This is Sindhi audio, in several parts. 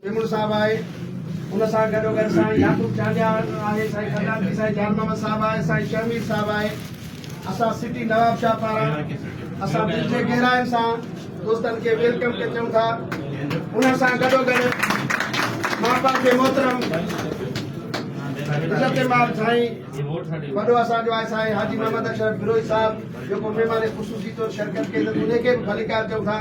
ميمڻ صاحب آهي ان سان گڏو گڏ سائين يعقوب چانڊياڻ آهي سائين خزانچي سائين جان محمد صاحب آهي سائين شهمير صاحب آهي اسان سٽي نواب شاهه پاران اسان دل جي گهراين سان دوستن کي ويلڪم ڪري چون ٿا ان سان گڏو گڏ ماء باپ کي محترم عزت مال سائين وڏو اسان جو آهي سائين حاجي محمد اشرف بروهي صاحب جيڪو مهمان خصوصي طور شرڪت ڪئي اٿن ان کي به ڀليڪار چون ٿا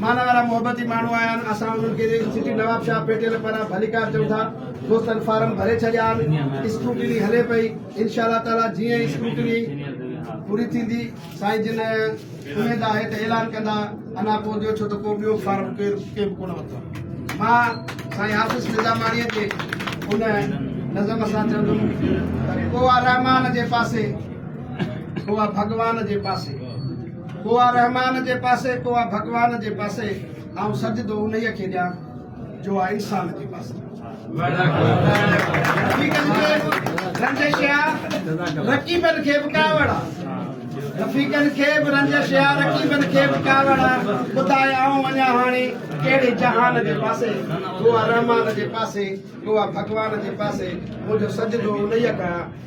معنيٰ وارا محبتي ماڻهو آيا آهن، اسان انهن کي سٽي نوابشاهه پيٽيل پاران ڀليڪار چئون ٿا، دوستن فارم ڀري ڇڏيا آهن، اسڪروٽني هلي پئي، انشاء الله تعاليٰ جيئن ئي اسڪروٽني پوري ٿيندي، سائين جن اميد آهي ته اعلان ڪندا، انا پوء جو ڇو ته ڪو ٻيو فارم ڪير ڪنهن به ڪونه ورتو آهي، مان سائين حافظ نظاماڻيء جي ان نظم سان چوندم ته ڪوئا رحمان جي پاسي، ڪوئا ڀڳوان جي پاسي. ڪو آ رحمان جي پاسي ڪو آ ڀڳوان جي پاسي آئون سجدو انهيء کي ڏيان جو آ انسان جي پاسي رنجش آ رقيبن کي به ڪاوڙ آ رفيقن کي به رنجش آ رقيبن کي به ڪاوڙ آ ٻڌاء آئون وڃان هاڻي ڪهڙي جهان جي پاسي ڪو آ رحمان جي پاسي ڪو آ ڀڳوان جي پاسي منهنجو سجدو انهيء کي ڪيان